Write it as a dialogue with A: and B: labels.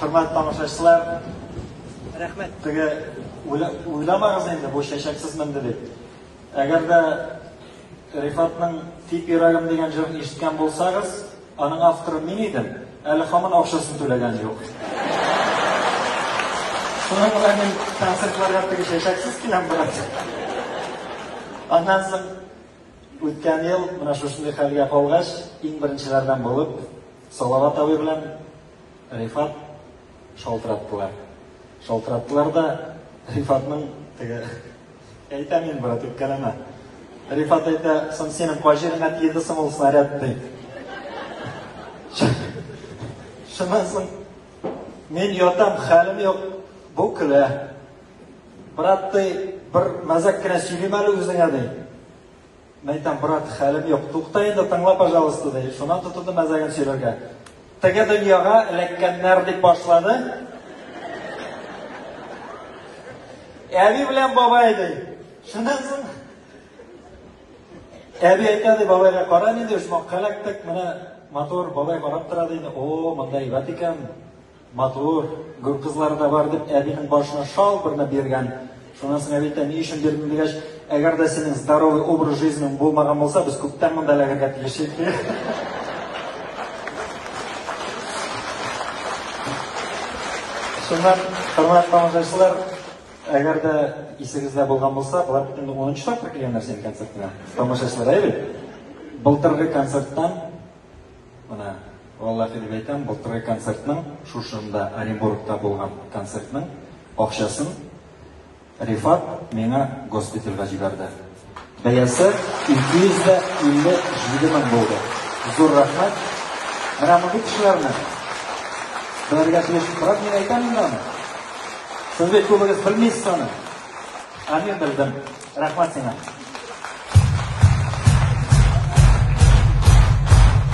A: Хөрмәт тамашачылар, рәхмәт. Теге уйламагыз инде, бу чәчәксез менде дип. Әгәр дә Рифатның Тип йөрәгем дигән җырын ишеткән булсагыз, аның авторы мин идем, әле хамын акчасын түләгән юк. Шуның белән мин концертларга теге чәчәксез киләм, брат. Аннан соң үткән ел менә шушындый хәлгә калгач, иң беренчеләрдән булып, Салават абый белән Рифат шалтыраттылар. Шалтыраттылар да Рифатның теге әйтәм мин, брат, үпкәләмә. Рифат әйтә, сон синең кай җиреңә тиелде соң ул снаряд ди. Шуннан соң мин ятам, хәлем юк, бу көлә. Брат, ди, бер мәзәк кенә сөйлим әле үзеңә, ди. Мин әйтәм, брат, хәлем юк. Тукта инде, тыңла, пожалуйста, ди. Шуннан тотынды мәзәген сөйләргә. Теге дөньяга эләккәннәр дип башлады. Әби белән бабай ди. Шуннан соң Әби әйтә ди, бабайга кара инде, ошмакка эләктек, менә матур бабай карап тора ди. О, монда әйбәт икән. Матур, гүр кызлары да бар, дип, әбинең башына шал берне биргән. Шуннан соң әби әйтә, ни өчен бирдең дигәч, әгәр дә синең здоровый образ жизнең булмаган булса, без күптән монда эләгергә тиеш идек. Шуннан, хөрмәтле тамашачылар, әгәр дә исегездә булган булса, болар бит инде 10 тапкыр килгәннәр синең концертыңа. Тамашачылар, әйе бит? Былтыргы концерттан Менә, валлахи дип әйтәм, былтыргы концертның, шушында, Оренбургта булган концертның акчасын Рифат миңа госпитальгә җибәрде. Бәясе 257 мең булды. Зур рәхмәт. Менә мондый кешеләрне белергә тиеш. Брат, мин әйтәм инде аны. Сез бит күбегез белмисез аны. Ә мин белдем. Рәхмәт сиңа.